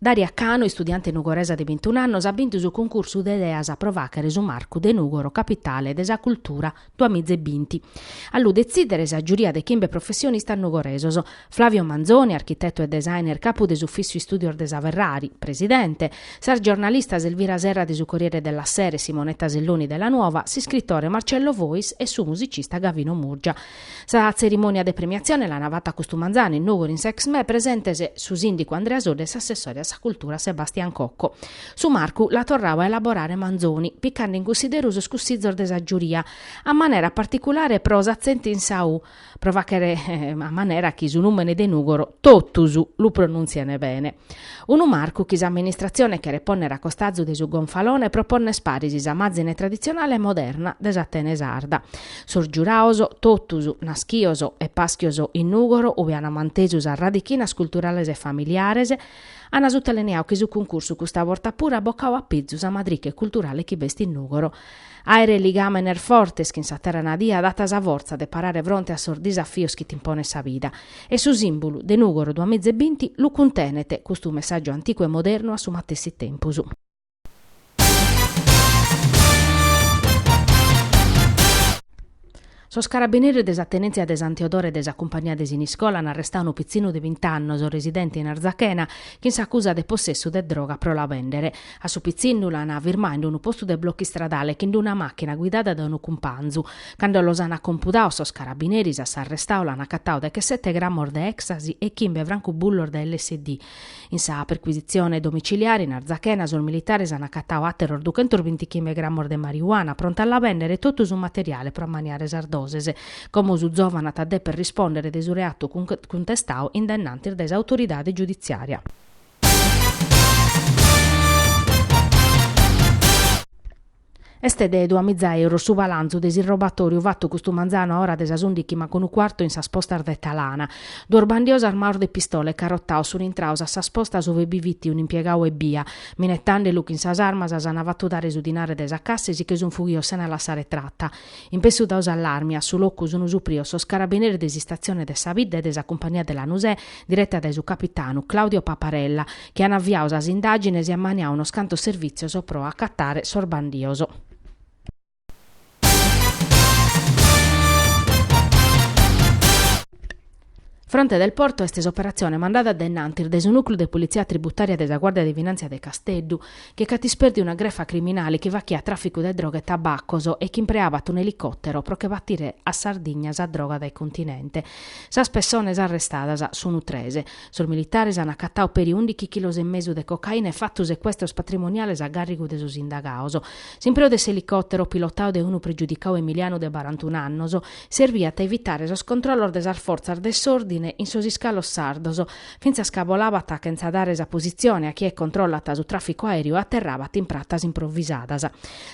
Daria Canu, istudiante nugoresa de bintun'annos, at bintu su cuncursu de ideas pro fàghere su marcu de Nùgoro capitale de sa cultura duamizebinti. A lu detzìdere sa giuria de chimbe professionistas nugoresos, Flavio Manzoni, architetu e designer capu de s'Ufissu Istùdios de sa Ferrari, presidente, sas giornalistas Elvira Serra de su Corriere della Sera e Simonetta Selloni de La Nuova, s'iscritore Marcello Fois e su musicista Gavino Murgia. Sa tzerimònia de premiatzione l'ana fata custu manzanu in Nùgoro in s'Exmè presentes su sìndicu Andrea Soddu e s'assessore a sa cultura Sebastian Cocco. Su marcu l'at torradu a elaborare Manzoni, picande in cussideru sos cussizos de sa giuria, a manera particulare pro s'atzentu in sa u, pro fàghere a manera chi su nùmene de Nùgoro totus lu pronùntziene bene. Unu marcu chi s'amministratzione cheret pònnere a costazu de su gonfalone pro pònnere paris sa màzine traditzionale e moderna de s'Atene sarda. Sos giuraos, totus naschios e paschios in Nùgoro ue an mantesu sas radichinas culturales e familiares, an sutalineadu chi su cuncursu custa borta puru at bocadu a pizu sa madriche culturale chi b'est in Nùgoro Àere ligàmenes fortes chin sa terra nadia dat sa fortza de parare fronte a sos disafios chi t'imponet sa vida. E su sìmbulu de Nùgoro duamiza e binti lu cuntenet custu messàgiu anticu e modernu a su matessi tempus. Sos carabineris de sa tenèntzia de Santu Teodoro de sa Cumpagnia de Siniscola an arrestadu unu pitzinnu de bint'annos residente in Arzachena chin s'acusa de possessu de droga pro la bèndere. A su pitzinnu l'an firmadu in unu postu de blocu istradale chin una màchina guidada dae unu cumpanzu. Cando los an acompudados sos carabineris a s'arrestadu l'an acatadu dechesete grammos de èxtasi e chimbe francubullos de lsd. In sa percuisitzione domiciliare in Arzachena sos militares an acatadu àteros dughentos binti chimbe gramos de marijuana pronta a la bèndere e totu su materiale pro ammaniare sas doses, como su zòvanu at a deper rispòndere de su reatu cuntestadu in dae innantis de s'autoridade giuditzìaria. Est de duamiza èuros su balantzu de s'irrobatoriu fatu custu manzanu a ora de sas ùndighi mancu unu cuartu in sas postas de Talana. Duos bandios armaos de pistola e carotaos sun intraos a sas postas ue bi fit un'impiegau ebbia, minetande lu chin sas armas s'ana fatu dare su dinare de sa cassa e si che sun fughios sena lassare tratta. In pessu dau s'allarme, a su locu sun suprios sos carabineris de s'istazione de sa bidda e de sa cumpagnia de Lanusè, diretta dae su capitanu Claudio Paparella, chi an aviau sas indàgines e ammaniau unos cantos servìtzios pro acatare sos bandios. Fronte del Porto est s'operatzione mandada de innantis dae su Nùcleu de Politzia Tributària de sa Guàrdia de Finàntzia de Casteddu, chi nc'at ispèrdiu una grefa criminale chi fachiat tràficu de droga e tabacos e chi impreabat un'elicòtero pro che batire a Sardigna sa droga dae Continente. Sas pessones arrestadas sunt tres. Sos militares an acatadu peri ùndighi chilos e mesu de cocaina e fatu secuestros patrimoniales a gàrrigu de sos indagados. S'impreu de s'elicòtero, pilotadu de unu pregiudicadu emilianu de barantunu annos, serbiat a evitare sos controllos de sas fortzas de s'òrdine in sos iscalos sardos, fintzas ca bolabat chentza dare sa positzione a chie controllat su tràficu aèreu e aterrabat in pratas improvisadas.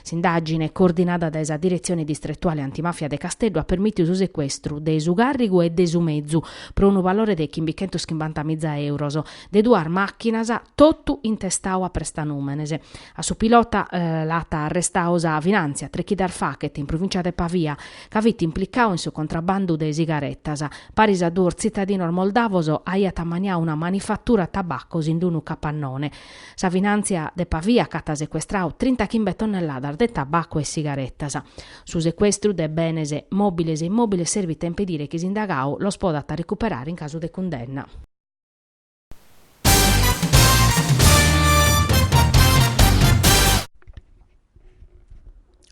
S'indàgine, coordinada dae sa Diretzione Distretuale Antimàfia de Casteddu, at permìtiu su secuestru de su càrrigu e de su mezu, pro unu valore de chimbichentos chimbanta miza èuros, de duas màchinas, totu intestadu a prestanùmenes. A su pilota l'at arrestadu sa Finàntzia, tres chidas fachet in provìncia de Pavia, ca fit implicadu in su contrabandu de sigaretas. Paris a duos tzitadinos moldavos aiat ammaniadu una manifatura tabacos in unu capannone. Sa finàntzia de Pavia ch'at secuestradu trinta chimbe tonnelladas de tabacu e sigaretas. Su secuestru de benes mòbiles e immòbiles serbit a impedire chi s'indagadu los podat recuperare in casu de cundenna.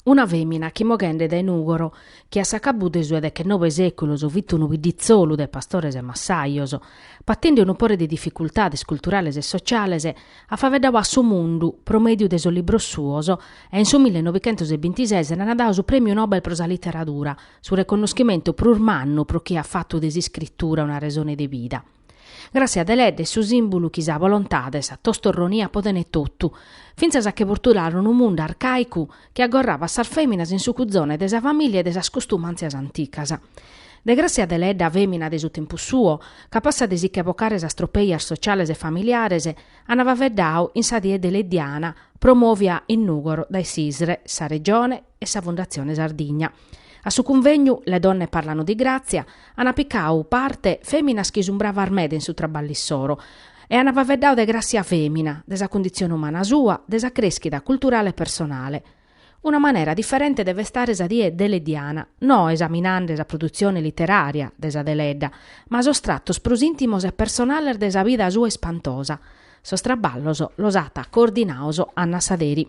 Una fèmina chi moghende dae Nùgoro, chi a s'acabu de su 'e dechennobe sèculos fit unu bidditzolu de pastores e massajos, patende unu pore de dificultades culturales e sociales, at faeddadu a su mundu pro mèdiu de sos libros suos e in su millenovichentos e bintises nd'an dadu su Prèmiu Nobel pro sa literadura, su reconnoschimentu prus mannu pro chie at fatu de s'iscritura una resone de vida. Gràssia Deledda est su sìmbulu chi sa bolontade e sa tostorronia potent totu, fintzas a che bortulare unu mundu arcàicu chi agorrabat sas fèminas in su cuzone de sa famìlia e de sas custumàntzias anticas. De Gràssia Deledda, fèmina de su tempus suo, capassa de si che bocare sas tropèias sociales e familiares, ant faeddadu in sa die deleddiana promòvia in Nùgoro dae s'ISRE, sa Regione, e sa Fundatzione Sardigna. A su cunvegnu Le donne parlano di Grazia ana picau parte feminas chi sun bravas meda in su traballu issoro e ana faveddau de Grassia femina, de sa cundizione umana sua, de sa creschida culturale e personale. Una manera differente de festare sa die deleddiana, no esaminande sa produzione litteraria de sa Deledda, ma sos trattos prus intimos e personales de sa vida sua ispantosa. Sos traballos los at coordinaos Anna Saderi.